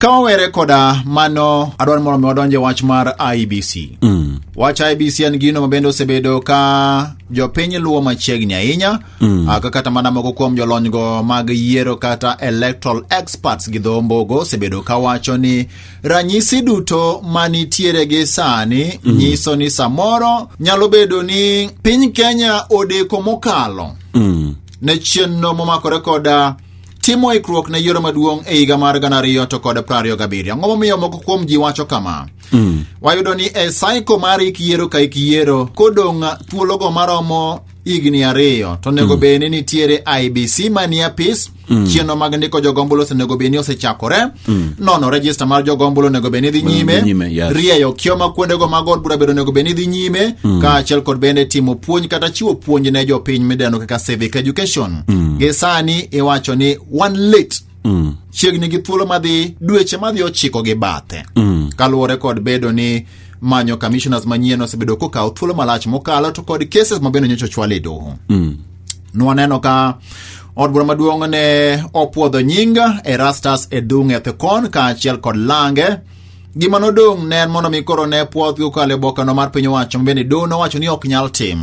Ka wawere koda mano, adwa ni mondo mi wadonj e wach mar IBC. Mm. Wach IBC en gino mabende osebedo ka jopiny luwo machiegni ahinya mm. aka kata mana moko kuom jolonygo mag yiero kata electoral experts gi dho mbogo osebedo ka wacho ni ranyisi duto manitiere gi sani mm. nyiso ni samoro nyalo bedo ni piny Kenya odeko mokalo mm. ne chenro momakore koda timo ikruok ne yiero maduong' e higa mar gana ariyo to kod prariyo gabiriyo ang'o momiyo moko kuom ji wacho kama mm. wayudo ni e saiko mar ik yiero ka ik yiero kodong' thuologo maromo higni ariyo to onego mm. bed ni nitiere ibc manie apis mm. chieno mag ndiko jogombolo osenego bed ni osechakore mm. nono rejista mar jogombulu onego bed ni dhi nyime, nyime yes. rieyo kioma kuondego mag od bura bedo onego bed ni dhi nyime mm. kaachiel kod bende timo puonj kata chiwo puonj ne jopiny midendo kaka civic education mm. gi sani iwacho ni one late mm. chiegni gi thuolo madhi dweche madhi ochiko gi bathe mm. kaluwore kod bedo ni manyo commissioners manyien osebedo kokawo thuolo malach mokalo to kod cases mabende nyocha ochwal e doho mm. nwaneno ka od bura maduong' ne opwodho nying Erastus Edung' Ethekon kaachiel kod lange gima nodong' ne en mondo mi koro ne pwodhgi kokalo e bokeno mar piny owacho mabende doho nowacho ni ok nyal tim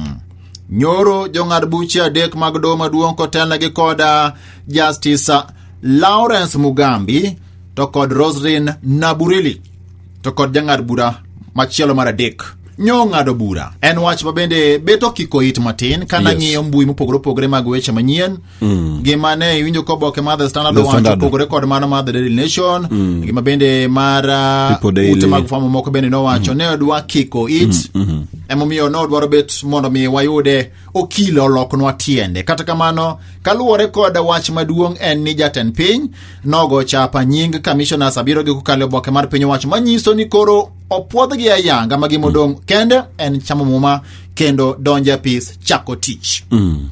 nyoro jong'ad buche adek mag doho maduong' kotelnegi koda Justice Lawrence Mugambi to kod Roslyn Naburili to kod jang'ad bura machielo mar adek nyo ng'ado bura en wach ma bende bet okiko it matin ka nang'iyo yes. mbui mopogore opogore mag weche manyien mm. gima ne iwinjo ko oboke mar the standard owacho opogore kod mano mar the daily nation mm. gima bende mar uh, ute mag fwamo moko bende nowacho mm. ne odwa kiko it mm. mm -hmm. emomiyo ne odwaro bet mondo mi wayude Okilo oloknwa tiende. Kata kamano, kaluwore kod wach maduong' en ni jatend piny nogo chapa nying kamishonas abiro gi kokalo oboke mar piny owacho manyiso ni koro opwodhgi ayanga ma gimodong' kende en chamo muma kendo donjo apis chako tich. Mm.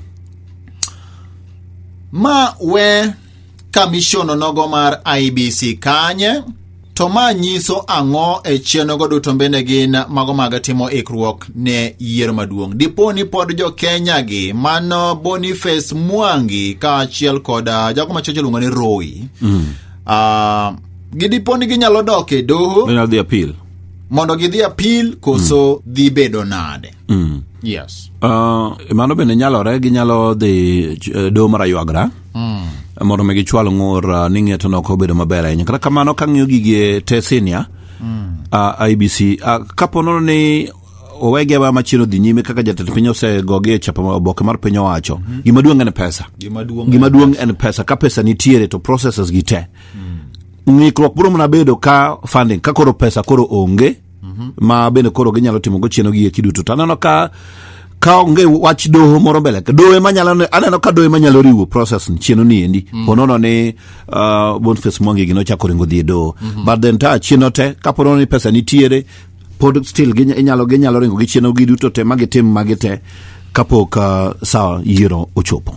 Ma we Kamishono nogo mar IBC kanye? To ma nyiso ang'o e chenrogo duto bende gin mago mag timo ikruok ne yiero maduong'. Dipo ni pod jo Kenya gi mano Boniface Mwangi kaachiel kod ah, jago machielo iluongo ni Roy. Mm. Uh, gidipo ni ginyalo dok e doho Then I'll the appeal. mondo gidhi apil koso dhi bedo nade. Mm. Yes. Uh, mano bende nyalore ginyalo dhi eh, doho mar aywagra mm. mondo mi gichwal ng'ur uh, ni ng'etono ok obedo maber ahinya kata kamano ka ng'iyo gigi te sinia mm. uh, ibc uh, kapo nono ni owege wa machielo dhi nyime kaka jatend piny osegogi e chapa oboke mar piny owacho mm -hmm. gima duong' en pesa gima duong' en pesa ka pesa nitiere to processes gi te mm. ng'ikruok biro mana bedo ka funding ka koro pesa koro onge mm -hmm. ma bende koro ginyalo timo go chieno gi eki duto to aneno ka ka onge wach doho moro mbele doho ema nyalo aneno ka doho ema nyalo riwo process chieno ni endi mm. ponono ni uh, Boniface Mwangi gino chako ringo dhi e doho mm -hmm. but then ta chieno te ka ponono ni pesa nitiere pod still ginyalo ginyalo ringo gi chieno gi duto te ma gitim ma gite kapok uh, saa yiero ochopo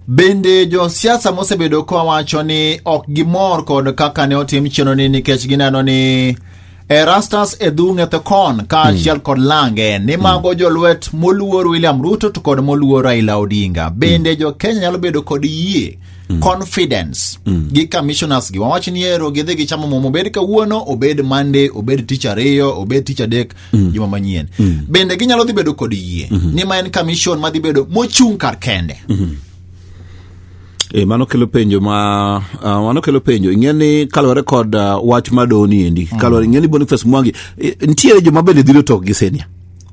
Bende josiasa mosebedo kowacho ni ok gimor kod kaka ne otim chenoni nikech gineno ni Erastus Edhunge Thekon kaachiel hmm. kod Lange ni hmm. mago jolwet moluor William Ruto to kod moluor Raila Odinga. Hmm. Bende jo Kenya nyalo bedo kod yie confidence gi commissioners gi wawach ni ero gidhi gi chamo momo obed kawuono obed Monday obed tich ariyo obed tich adek juma manyien bende ginyalo dhi bedo kod yie ni ma en commission madhi bedo mochung' kar kende E, mano kelo penjo ma uh, mano kelo penjo ing'e ni kaluwore kod uh, wach ma doni endi mm. kaluwore ing'e ni Boniface Mwangi e, nitiere joma bende dhiro tok gi senia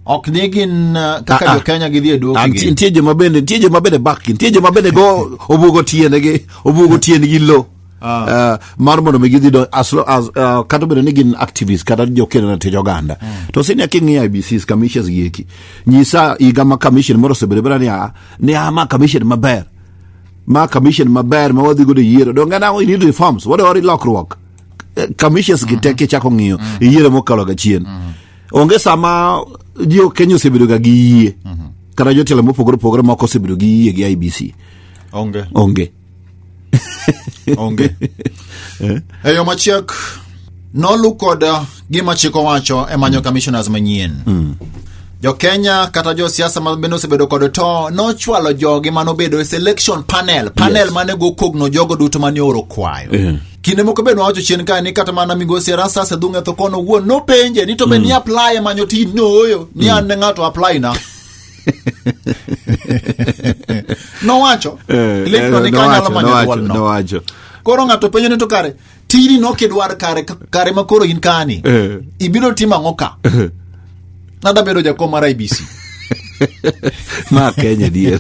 ok ni gin uh, kaka ah, ah. jo Kenya gidhi e duoki ah, gi nitie joma bende nitie joma bende bak gi nitie joma bende go obugo tiende gi obugo tiende gi lo Uh, mar mondo mi gidhi donjo as, as, uh, kata obedo ni gin activist kata jokeno na tij oganda mm. to sini aki ng'iyo IBCs commissions gieki nyisa higa ma commission moro osebedo bera ni a ni a ma commission maber ma commission maber ma wadhi godo e yiero donge na we need reforms wadwa wari lokruok Eh, commissions gi teke chako ng'iyo e yiero mokalo ga chien onge sama jo Kenya osebedo ga gi yie kata jotelo mopogore opogore moko osebedo gi yie gi IBC onge onge onge e yo machiek nolu kod uh, gima chik owacho e manyo commissioners manyien jokenya kata josiasa ma bende osebedo kod to nochwalo jogi manobedo e selection panel panel Yes. mane gokogno jogo duto mane oro kwayo Eh. kinde moko bende wacho chien kae ni kata mana migosi erasas e dhung'e tho kono wuon nopenje ni to be ni apply manyo tij nooyo ni an ne ng'ato apply na nowacho Eh, Cliff eh, no ni kanyalo nowacho, manyo nowacho, dwolno nowacho. koro ng'ato penjo ni to kare tini nokidwar kare kare ma koro in kani Eh. ibiro timo ang'o ka nada bedo jakom mar ibc ma kenya dier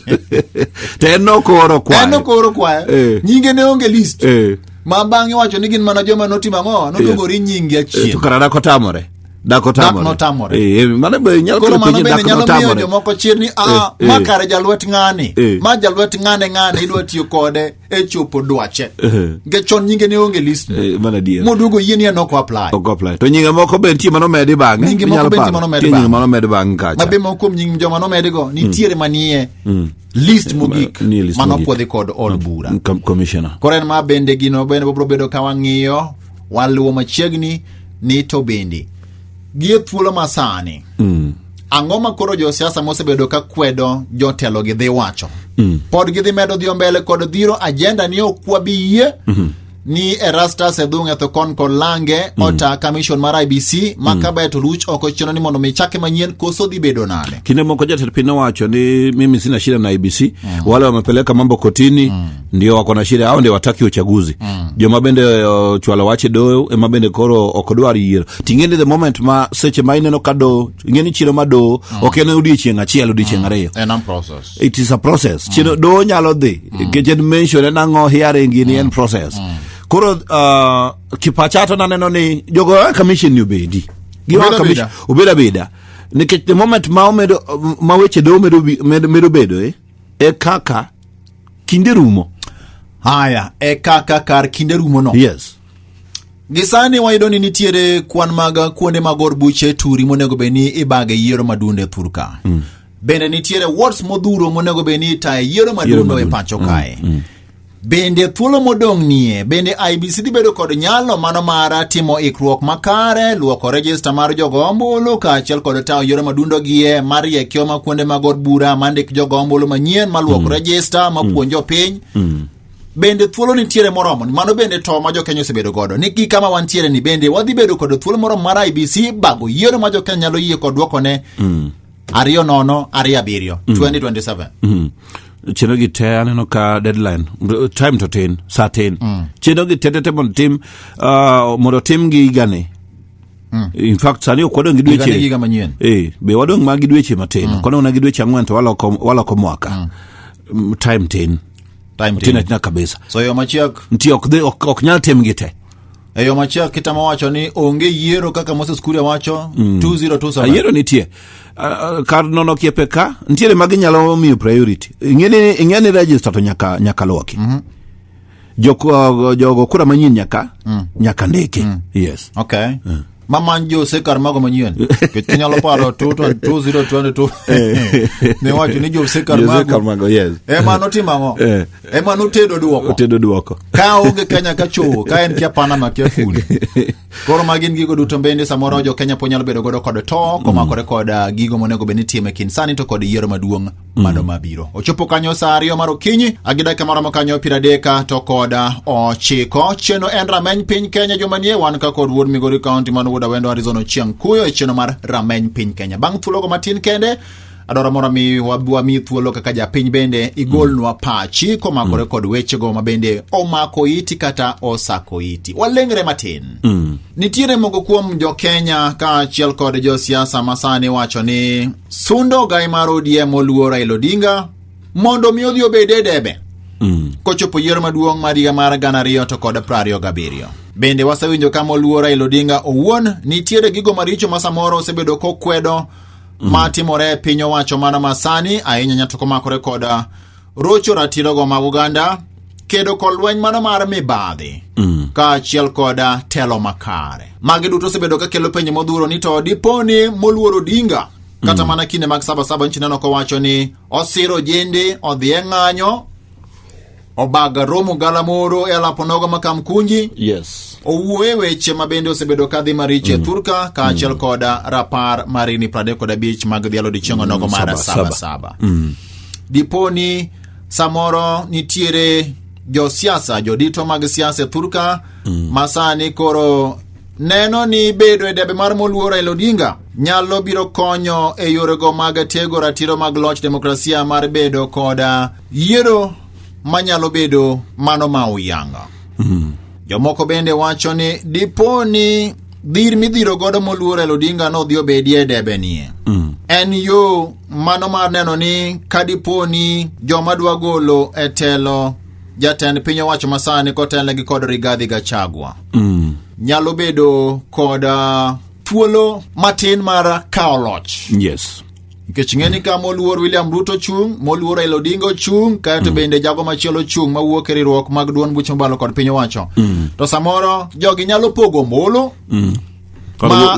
to en nokoro en kwayo nokoro kwayo Eh. nyinge ne onge list Eh. ma bang'e wacho ni gin mana joma notimo ang'o nodogori nyingi Eh, to achien kara dak otamore dak otamore Dak notamore. Eh, eh, mano be nyalo koro kelo mano penjo bende dak nyalo miyo notamore jomoko chir ni a Eh, ma eh. kare jalwet ng'ani Eh. ma jalwet ng'ane ng'ane idwa tiyo kode e chopo dwache nikech chon nyinge ne onge list Eh, mana adier. moduogo yie ni en ok apply Ok apply. To nyinge moko be nitie mano medi bang'e. Nyinge moko Inyalo be nitie paro. mano medi Nitie nyinge bang'e. mano medi bang'e kacha. mabe moko kuom nying joma nomedigo nitiere manie list mogik nie list mano mogik. pwodhi kod od bura Com- Commissioner. koro en ma bende gino bende bobro bedo ka wang'iyo waluwo machiegni ni to bende gie thuolo ma sani mm. ang'o ma koro josiasa mosebedo ka kwedo jotelo gi dhi wacho mm. pod gidhi medo dhi mbele kod dhiro ajenda ni ok wabiyie mm -hmm ni erastus edhung etho kon kod lange mm. ota commission mar ibc ma mm. kabaye to ruch oko chino ni mondo michake manyien koso dhi bedo nade kinde moko jatend piny owacho ni mimi sina shida na ibc mm. wale wamepeleka mambo kotini mm. ndio wako na shida hao ndio wataki uchaguzi mm. joma bende uh, chwalo wache doyo ema bende koro ok odwar yiero ting'eni the moment ma seche ma ineno ka doyo ing'eni chiro ma doyo mm. ok en odiechieng' achiel odiechieng' mm. ariyo en process it is a process mm. chiro doyo nyalo dhi nikech mm. en mention en ang'o hearing ni mm. en process mm. koro uh, kipachato naneno ni jogo eh, commission ni obedi obed abeda nikech the moment ma omedo ma weche doyo medo bedo eh, e kaka kinde rumo haya e kaka kar kinde rumo no yes gisani wayudo ni nitiere kwan mag kuonde mag or buche turi monego bed ni ibage yiero madunde e thur ka mm. bende nitiere wards modhuro monego bed ni itaye yiero madundo e pacho kae mm. Mm. bende thuolo modong' nie bende ibc dhi bedo kod nyalo mano mara timo ikruok makare luoko rejista mar jogo ombulu kaachiel kod tawo yiero madundogie mariekio kuonde mag od bura mandik jogo ombulu manyien maluok mm. rejista mm. mapuonjo piny mm. bende thuolo nitiere moromo mano bende to ma jokenya osebedo godo ni gi kama wantiere ni bende wadhi bedo kod thuolo moromo mar ibc bago yiero ma jokenya nyalo yie kod dwokone mm. ariyo nono ariyo abiriyo mm. 2027 mm. chino gi te aneno ka deadline time to tin sa tin mm. chino gi te te te mondo tim uh, mondo tim gi higani Mm. in fact sani ok wadong' gi Higa ni dweche higa manyien. eh, be wadong' ma gi dweche matin mm. kodong' na gi dweche ang'wen to waloko, waloko mwaka mm. time tin Time tin tin. atina kabisa So yo machiek nti ok, dhi- ok, ok nyal tim gi te e yo machiek kitamo wacho ni onge yiero kaka Moses Kuria wacho 2027. ayiero nitie Ah, ah, kar nono kiepe ka ntiere ma ginyalo miyo priority ing'e ni- ing'e ni register to nyaka, nyaka lwoki mm-hmm. Joko- jogo kura manyien nyaka nyaka ndiki yes okay maman jo sekar mago manyien kech kinyalo paro 2022 ne wacho ni jo sekar Jo Sekar mago mago, yes. ema notimo ang'o Eh. ema notedo dwoko otedo dwoko ka onge kenya ka chowo ka en kia panama kia fundi koro ma gin gigo duto bende samoro jo kenya po nyalo bedo godo kod to komakore kod ah, gigo monego bed ni time kind sani to kod yiero maduong' mano mabiro ochopo kanyo saa ariyo mar okinyi gi dakika maromo kanyo piero adek to kod ochiko cheno en rameny piny kenya joma nie wan ka kod wuod migori county man wuod awendo arizona chieng' kuyo e cheno mar rameny piny kenya bang' thuologo matin kende adwaro mondo mi wab- wami thuolo kaka japiny bende igolnwa pachi komakore kod wechego ma bende omako iti kata osako iti walengre matin nitiere moko kuom jokenya kaachiel kod josiasa masani wacho ni sundo ogai mar ODM oluwo Raila Odinga mondo mi odhi obed e debe mm. kochopo yiero maduong' mar higa mar gana ariyo to kod prariyo gabiriyo bende wasewinjo ka moluwo Raila Odinga owuon nitiere gigo maricho ma samoro osebedo kokwedo mm. ma timore e piny owacho mana masani ahinya nyato komakore koda rocho ratirogo mag oganda kedo kod lweny mano mar mibadhi mm. kaachiel kod telo makare magi duto osebedo ka kelo penjo modhuro ni to dipo ni moluor odinga kata mm. mana kinde mag sabasaba nchineno kowacho ni osiro jende odhi e ng'anyo obaga romo galamoro e alaponogo ma kamkunji yes. owuoye weche ma bende osebedo kadhi maricho e mm. thurka kaachiel mm. kod rapar marini 35 mag dhialo dichieng'o nogo mm. mar sabasaba mm. Dipo ni samoro nitiere josiasa jodito mag siasa e thurka mm. masani koro neno ni bedo e debe mar moluor Raila Odinga nyalo biro konyo e yorego mag tego ratiro mag loch demokrasia mar bedo koda yiero manyalo bedo mano ma uyanga. Mm. Jomoko bende wacho ni dipo ni dhir midhiro godo moluor el odinga no odhi obedie e debe nie mm. en yo mano mar neno ni kadipo ni joma dwa golo e telo jatend piny owacho masani kotelnegi kod rigadhi gachagwa mm. nyalo bedo kod uh, thuolo matin mar kawo loch yes Nikech ng'e ni ka moluor William Ruto chung', moluor Raila Odinga ochung', kaeto mm. bende jago machielo ochung' mawuok e riwruok mag duond buch mobalo kod piny owacho. Mm. To samoro jogi nyalo pogo ombulu. Mm. Ma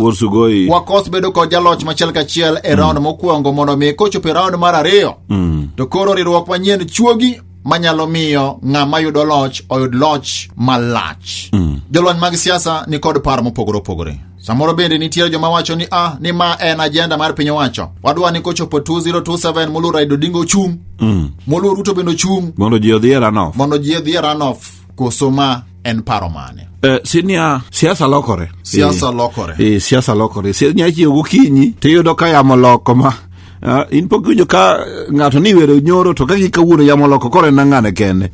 wakos bedo kod jaloch machiel kachiel e mm. raund mokwongo mondo mi kochopo e raund mar ariyo. Mm. To koro riwruok manyien chuogi manyalo miyo ng'ama yudo loch oyud loch malach. Mm. Jolony mag siasa ni kod par mopogore opogore. Samoro bende nitiere joma wacho ni ah, ni ma en ajenda mar piny owacho. Wadwa ni kochopo 2027 Moluor Raila Odinga ochung'. Mm. Moluor Ruto bende ochung'. Mondo ji odhi e runoff. Mondo ji odhi e runoff. Koso ma en paro mane? Eh, sinia siasa lokore. Siasa eh, lokore. Eh, siasa lokore. Sinia chiyo gokinyi to iyudo ka yamo loko ma Uh, in pok winjo ka ng'ato ni wero nyoro to ka gikawuono yamo loko koro en ang'ane kende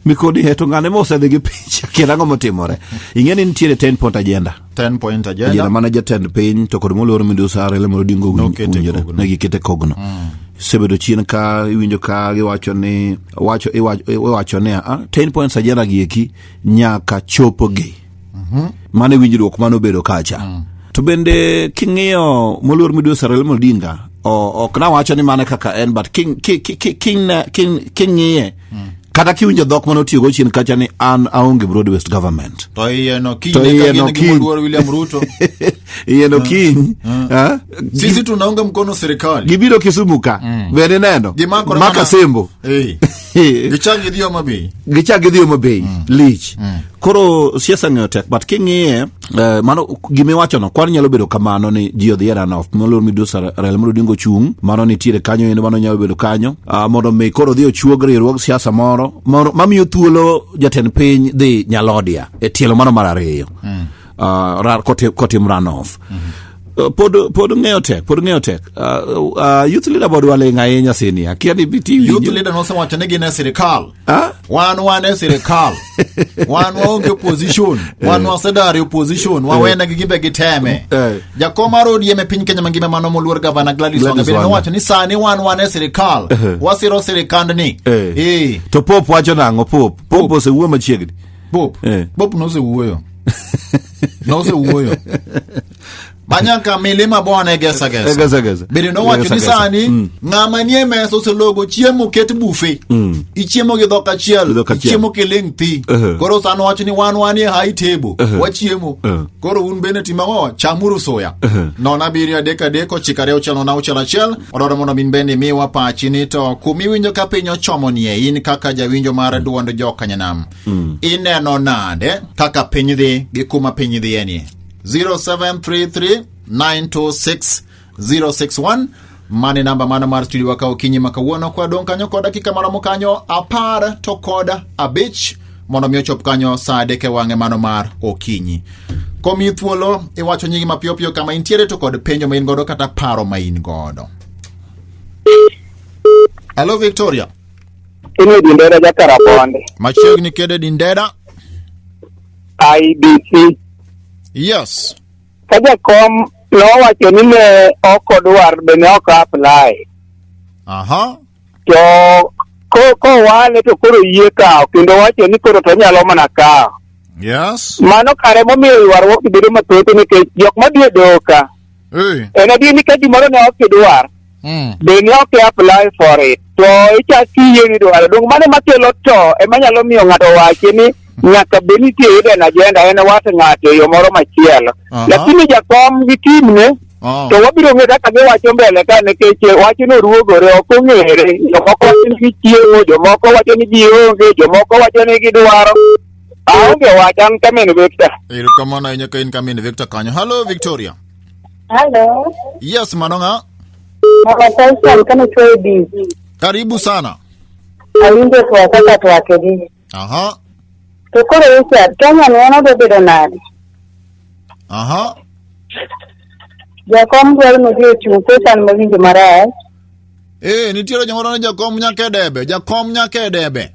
mikoni heto ng'ane mosedhi gi picha kendo ang'o motimore ing'e ni nitiere ten pot agenda ten point ajenda ajenda mane jatend piny to kod moluor midusi arele mondo dingo Nokete winjore kogno. ne gikete kogno sebedo chien ka iwinjo ka giwacho ni wacho iwacho- iwacho ni a ten points ajenda gi eki nyaka chopogi mano e winjruok mane obedo kacha to bende king'iyo moluor midusi arele mondo dinga o- ok nawacho ni mano e kaka en but king- ki- ki- ki- king- ne- king- king'iye kata kiwinjo dhok mane otiyogo chien kacha ni an aonge broad west government To iye no kiny To ne iye ka no gin gi kiny. moluor William Ruto. iye no kiny ah, Sisi tunaunga mkono serikali. gibiro kisumu ka bende neno Gimakore maka mana- sembo Eh. Gichangi dhiyo mabi. gichak gidhi Homa Bay lich koro siasa ng'eyo tek but king'iye Uh, mano gima iwachono kwan nyalo bedo kamano ni ji odhi e runoff moluor midusi Raila Amolo Odinga ochung' mano nitiere kanyo endo mano nyalo bedo kanyo uh, mondo mi koro odhi ochuog riwruog siasa moro moro mamiyo thuolo jatend piny dhi Nyalodia e tielo mano mar ariyo mm. uh, ra, kotim, kotim runoff mm -hmm. uh, pod pod ng'eyo tek pod ng'eyo tek uh, uh, youth leader bod waling' ahinya sini akia ni biti youth leader nosewacho ni gin e sirikal Ah? wan wan e sirikal wan waonge opposition wan wasedari opposition wawene gi gimbe giteme Eh. jakom mar odm e piny kenya mangima mano moluor gavana gladys Gladys wangabere Wanga. nowacho ni sani wan wan e sirikal wasiro sirikandni Eh. Eh, to pop wacho nang'o pop pop osewuo machiegni bob Eh. bob nosewuoyo nosewuoyo banyanka milima bona egesagesa Egesagesa. bende nowacho ni Egesagesa. sani Mm. ng'ama nie mesa oselogo chiemo ket bufe Mm. ichiemo gi dhok achiel Gi dhok achiel. ichiemo kiling' thi Uh-huh. koro sani owacho ni wan wanie high table Uh-huh. wachiemo Uh-huh. koro un bende timago chamuru suya Uh-huh. nono abiriyo adek adek ochiko ariyo auchiel nono auchiel achiel odwaro mondo min bende imiwa pachi ni to kum iwinjo ka piny ochomo nie in kaka jawinjo mar duond jokanyanam ineno nade kaka piny dhi gi kuma piny dhiye nie 0733 926 061 mane namba mano mar studio waka okinyi ma kawuono kwa dong' kanyo kod dakika maromo kanyo apar to kod abich mondo mi ochop kanyo saa adek e wang'e mano mar okinyi komi thuolo iwacho nyingi mapiyopiyo kama intiere to kod penjo ma in godo kata paro ma in godo hello victoria Ini dindera jakara bonde. machiegni kede dindera IBC Yes. Ka jakom nowacho ni ne ok odwar be ne ok apply. Aha. To ko kowale to koro yie kawo kendo wacho ni koro to nyalo mana kawo. Yes. Mano kare momiyo ywaruok bedo mathoth nikech jok madhi e doka Eh. En adier ni ka gimoro ne ok idwar, Mm. be ne ok apply for it. To ichak kiyie ni idwaro. Donge mano makelo to ema nyalo miyo ng'ato wachi ni nyaka be nitie hidden agenda en wat ng'ato e yo moro machielo. Aha. Lakini jakom gi timne Oh. to wabiro ng'e kaka giwacho mbele ka nikech wachno ruogore ok ong'ere jomoko wacho ni gichiemo jomoko wacho ni gionge jomoko wacho ni gidwaro Aonge wacha an kamin Victor. Erokamano ahinya ka in kamin Victor kanyo. Hello Victoria. Hello. Yes, mano ng'a? Mama Tyson kama chwe bi. Karibu sana. Awinjo kwa kaka twake bi. Aha. To koro weche Kenya ne ono do bedo nade? Aha. Jakom dwaro ni odhi ochung' pesa ni mawinjo marach. Eh, nitiere jomoro ni jakom nyaka e debe, jakom nyaka e debe.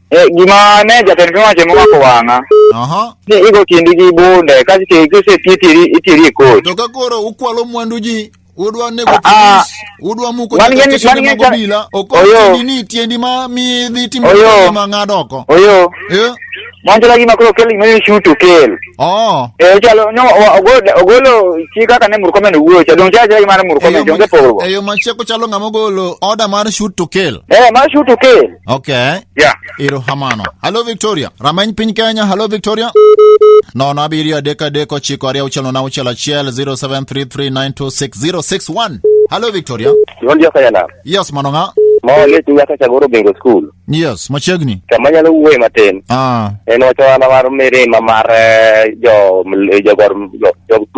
Eh, gima ne jatend piny owacho momako wang'a Aha. ni igo kindi gi bunde kasto iti- kiseti itiri itiri e kot. To ka koro ukwalo mwandu ji udwa nego Ah, ah. polis, udwa muko Wan nyaka gi- steshende wan gi mag jal- obila. Ok Oyo. tiendi ni tiendi ma mi dhi timo Oyo. tiendi ma ng'ad oko. Oyo, Eh? mwanjala gima koro kel gima ni shoot to kill. Oh. Eh, chalo no wa- ogolo ogolo chi kaka ne Murkomen owuoyo cha dong cha cha gima ne Murkomen onge pogruok. Eyo macheko chalo ng'ama ogolo order mar shoot to kill. Eh, ma shoot to kill. Okay. Yeah. Iruhamano. Hello Victoria. Rameny piny Kenya. Hello Victoria. Nono abiriyo adek adek ochiko ariyo auchiel nono auchiel achiel 0733926061. Hello Victoria. Iwon joka yana. Yes mano ng'a? Ma let nyaka chagoro bingo school. Yes, machiegni. Kama nyalo wuoye matin. Ah. En wacho wana mar mirima mar eh, jo jo gor jo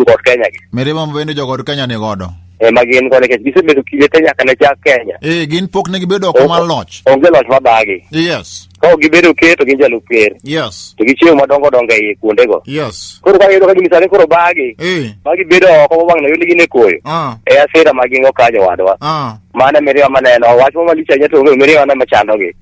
jo Kenya gi. Mirima mabende jogod Kenya ni godo. ema gin go nikech gisebedo kinde te nyaka ne chak Kenya. Eh, gin pok ne gibedo oko mar loch. Onge loch mabagi. Yes. Ka ok gibedo ker to gin jalup ker. Yes. To gichiwo madongo dongo e iye kuondego. Yes. Koro ka giyudo ka gini sani koro bagi. Eh. Ma gibedo oko mabang' noyud gin e koyo. Ah. E asira ma gin go kanyo wadwa. Ah. Mano e miriwa maneno. Wach ma malich ahinya to onge miriwa ne machandogi.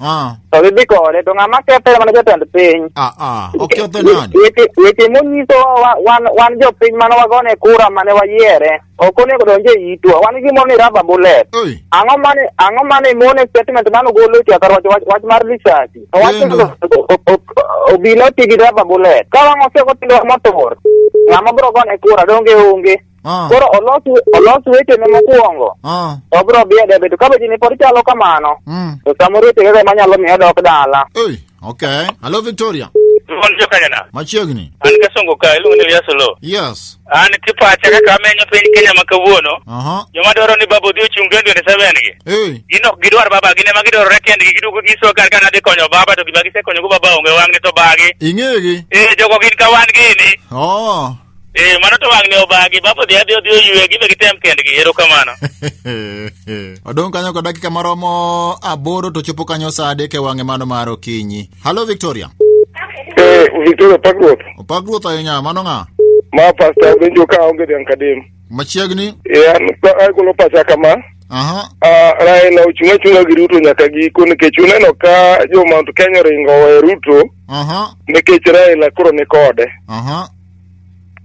Ah, to gidhi kode to ng'ama kethe mana jatend piny ah, ah. Oketho nani? Weche- weche monyiso wa- wan wan jopiny mane wagone kura mane wayiere ok onego donje itwa wan gimoro ni raba bullet Oi. ang'o mane ang'o mane mone statement mane ogolo e twakar wach wach- wach mar lisasi to wach Geno. o- o- o- obila oti gi raba bullet ka wang'o seko tindo motor ng'ama biro gone kura donge onge Ah. Koro olos olos wechene mokwongo. Ah. To bro bi e debe to kabeji ni pod chalo kamano. Mm. To samoro wechege go ema nyalo miyo odok dala. Hey, okay. Hello Victoria. Mon jo Kanyana. Machiegni. An ka songo ka iluongo ni Elias Olo. Yes. An kipacha kaka amenyo piny Kenya ma kawuono. Aha. Joma dwaro ni baba odhi ochung' 2027 gi. Hey. Gin ok gidwar baba gin ema gidwarore kendgi giduogo giso kar ka nadhi konyo baba to gima gisekonyogo baba onge wang'ni to bagi. Ing'egi. Eh jogo gin ka wan gini. Oh. Eh, mano to wang'ne obagi, baba odhi adhi odhi oyue, gibe gitem kendgi, erokamano. Odong' kanyo kod dakika maromo aboro to chopo kanyo saa adek e wang'e mano mar okinyi. Halo Victoria. Eh, Victoria Pagruoth, Opak ruoth ahinya, mano ng'a? ma pasta benjo ka onge dhiang' kadem. Machiegni. E an pa- agolo pacha kama. Aha. Ah, Raila ochung' achung'a gi Ruto nyaka giko nikech uneno ka jo Mount Kenya oringo owe Ruto Aha. nikech Raila koro ni kode. Aha.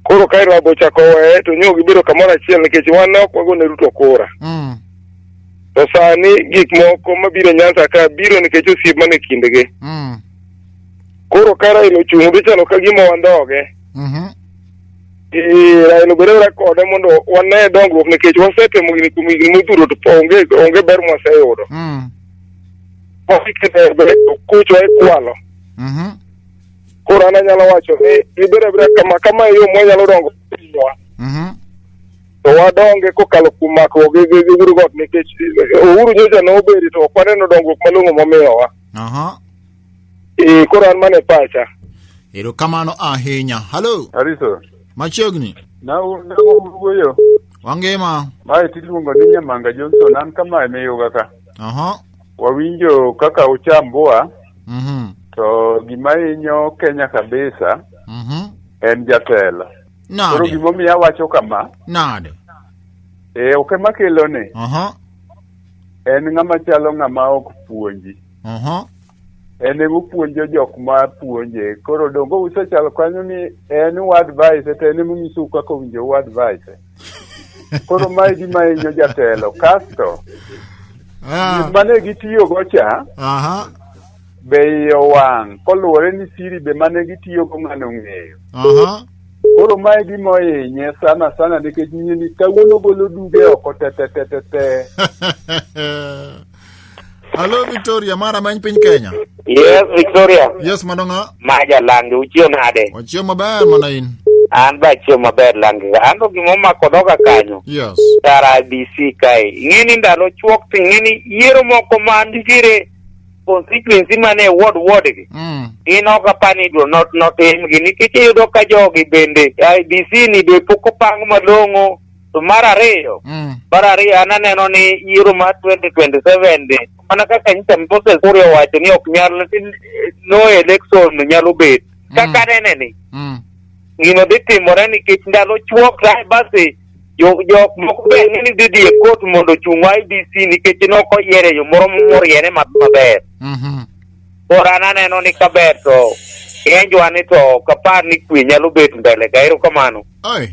Koro ka Raila ochako weye to nyo gibedo kamoro achiel nikech wan ne ok wagone Ruto kura. Mm. To sani gik moko mabiro Nyanza ka biro nikech osiep man e kindgi. Mm. Koro ka Raila ochung' odhi chalo ka gima wandhoge. Mhm. Eh, Raila obed abeda kode mondo wane dongruok nikech wasetemo gini kuom higni modhuro to po- onge onge ber mwaseyudo. Mm. Wasikete ber kucho e kwalo. Mhm. Koro an anyalo wacho ni ibed abeda kama kama e yo mwanyalo dongo pinywa. Mhm. To wadonge kokalo kuom makruok gi gi- gi Uhuru got nikech eh, Uhuru nyocha nobedi to ok waneno dongruok malong'o momiyowa. Aha. Eh, koro an mana e pacha. erokamano ahinya halo Ariso, machiegni na na wuoyo. wangima Mae tiluongo ni Nyamanga Johnson, an kama emiyoga ka. aha Wawinjo kaka uchamboa mhm to gima hinyo Kenya kabisa mhm en jatelo. Koro nade gimomiyo awacho kama, nade eh, ok ema kelone, aha en ng'ama chalo ng'ama ok puonji. Aha. en ema opuonjo jok ma puonje koro dongo usechalo kanyo ni en u advice to en ema onyisou kaka owinjo u advice koro ma gima hinyo jatelo kasto Ah, mane gitiyogo cha Aha. be iye owang' koluwore ni siri be mane gitiyogo ng'ano ong'eyo Aha. koro mae gima ohinye sana sana nikech nyini kawuono golo duge oko tetetetete Hello Victoria, mara many piny Kenya. Yes, Victoria. Yes, madonga. Maja langi, uchiyo nade? Wachiyo maber mana in. An ba chiyo maber langi. An to gima omako dhoga kanyo. Yes. Tara IBC kae. Ing'eni ndalo chuok to ing'eni yiero moko ma nitiere constituency mane e ward ward gi. Mm. In ok apar ni idwa not notimgi nikech iyudo ka jogi bende IBC ni be pok opang malong'o To mar ariyo, Mm. mar ariyo an aneno ni yiero mar 2027 ni mana kaka nyicha Moses Kuri owacho ni ok nyal no election nyalo bet. Kaka anene ni Mm. gino dhi timore nikech ndalo chuok kae basi jo- jok moko be ni dhi dhi e kot mondo ochung IBC nikech ne ok oyiere e yo moro moriere ma- maber. Mhm. Koro an aneno ni kaber to enjwa ni to ok apar ni kwe nyalo bet mbele ka erokamano. Oi.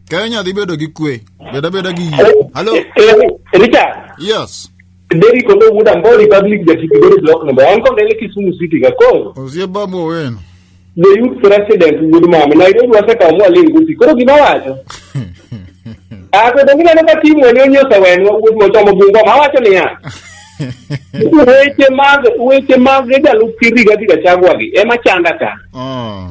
Kenya dhi bedo gi kwe. Beda beda gi yie. Hello. Eh, eh, Richard. Yes. Derry kondo wuda mbo Republic ja Kibigori block number. Anko ndele Kisumu City ga koro. Osie babu wenu. The youth president wudu mama. Nairobi waseka mwa lingusi. Koro gima wacho. Ah, kwa dongina naka timu wani onyosa wenu wudu motomo bungo. Mawacho ni ya. Weche mag, weche mag edalu kiri gati gachagwagi. Ema chanda ka. Oh.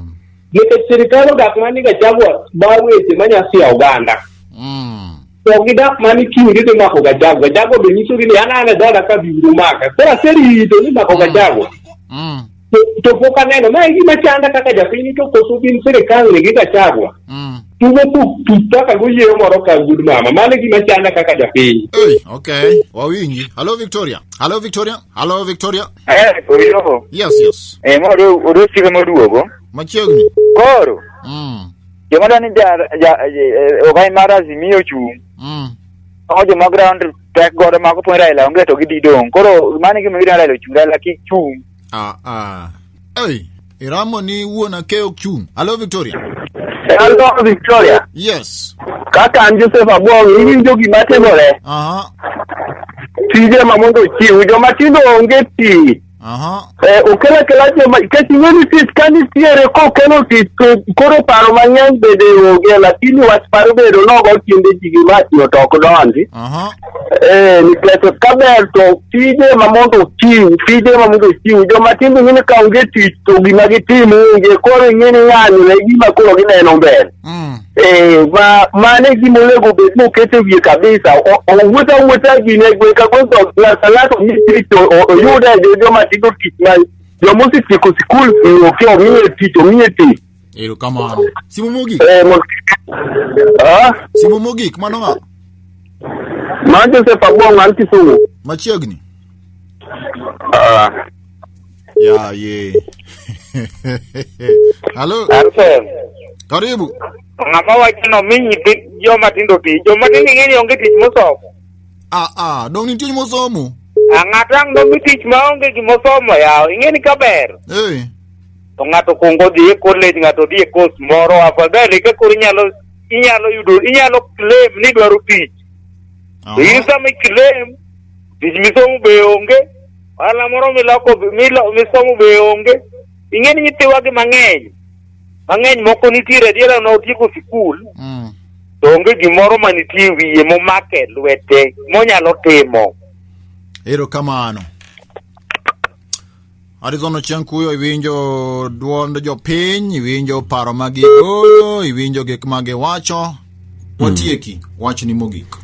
Nikech sirkal odak mana ni Gachagua ma weche ma nyasi ya oganda. Mm. To gidak mana ni kiny gidhi mako Gachagua. Gachagua be nyisogi ni an an e dhoda ka biro maka. Koro aserito ni mako Gachagua. Mm. To, to pok aneno. Ma e gima chanda kaka japiny to koso gin sirkal ni gi Gachagua. Mm. Tugo tuk tuk kaka goyieyo moro ka gud mama. Mano e gima chanda kaka japiny. Hey, okay. Wawinji. Hello Victoria. Hello Victoria. Halo Victoria. Eh, koyo. Yes, yes. Eh, mo do do sike mo duogo. Machiegni. Koro. Mm. Joma dani ja ja eh, ogai mar Azimio chung'. Mm. Ogo joma ground tek godo ma kopon Raila onge to gididong'. Koro mano gima gidwa Raila ochung' Raila kik chung'. Ah, ah. Hey. Iramo ni wuon akeyo chung. Hello Victoria. Hello Victoria. Yes. Kaka an Joseph Abong, iwinjo gima timore. Aha. Tije ma mondo chiw joma tindo onge tich. Aha. Eh, okel akela joma nikech ing'e ni tich ka nitiere kokelo tich to koro paro mang'eny bende onge lakini wach paro bedo nogo kinde ji gima tiyo to ok donji. Aha. Eh, nikech kaber to tije ma mondo ochiw tije ma mondo ochiw joma timbe ng'ini ka onge tich to gima gitimo onge koro ing'ini ng'anyo ne gima koro gineno mbele Mm. Eh, ma mano e gima onego bed ni oket e wiye kabisa O- owuoth awuotha gine gwe ka gwe to ng'ato ng'ato ni tich o- o- oyude jo- joma tigo tich ma joma osetieko sikul eh, ok omiye tich omiye tich Erokamano. Simu mogik. Eh, mo- Ah, Simu mogik mano ng'a? ma Joseph Abong an Kisumu. Machiegni. Ah, Ya ye. Halo, Arsen, karibu. ng'ama wacho ni omi nyithi joma tindo tich, joma tindo ing'e ni onge tich mosomo. Ah ah, dong nitie mosomo. Ah, Ng'ato ang' nomi tich ma onge gimosomo yaw, ing'e ni kaber. Eh. to ng'ato kuongo dhi e college ng'ato dhi e course moro afadhali ka koro inyalo inyalo yudo inyalo claim ni dwaro tich to in Aha. sama i-claim tich misomo be onge ohala moro miloko be- milo- misomo be onge ing'e ni nyithiwa gi mang'eny mang'eny moko nitiere adiera na otieko sikul Mm. to onge gimoro ma nitie e wiye momake e lwete monyalo timo Erokamano. Arizona Ochieng Kuyo, iwinjo duond jopiny, iwinjo paro ma gigolo, iwinjo gik ma giwacho. Watieki, wach ni mogik.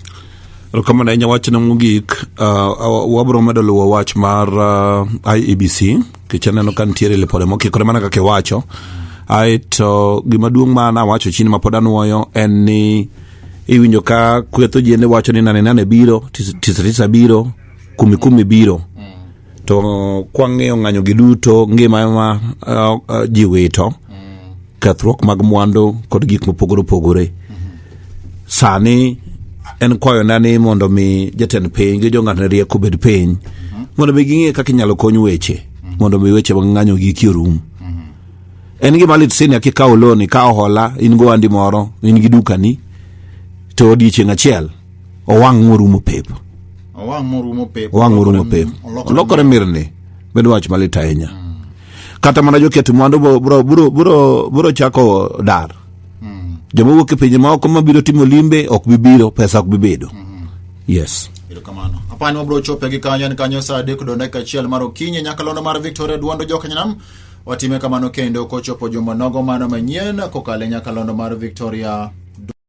Erokamano ahinya wachna mogik. Uh, uh, wabiro medo luwo wach mar uh, IEBC nikech aneno ka nitiere lipode mokikore mana kaka iwacho. Ae to gimaduong' ma nawacho chini ma pod anwoyo en ni iwinjo ka kwetho ji ende wacho ni nane nane biro, tisa tisa biro, kumi kumi biro. to kwang'iyo ng'anyogi duto ngima ema uh, uh, ji wito kethruok mag mwandu kod gik mopogore opogore sani en kwayona ni mondo mi jatend piny gi jong'atne rieko obed piny mondo mi ging'e kaka inyalo kony weche mondo mi weche mag ng'anyo giki orum en gima lit sini kikawo loni ka ohola in go andi moro in gi dukani to odiechieng' achiel owang' morumo pep owang' morumo pep owang' morumo pep olokore mirni bedo wach malit ahinya kata mana joket mwandu bo- bro bro bro bro chako dar joma wuok e pinje maoko mabiro timo limbe ok bi biro pesa ok bi bedo yes erokamano apani wabiro chope gi kanyo en kanyo saa adek do dakika achiel mar okinyi nyakalondo mar victoria duondo jokanyanam watime kamano kendo kochopo juma nogo mano manyien kokale nyakalondo mar victoria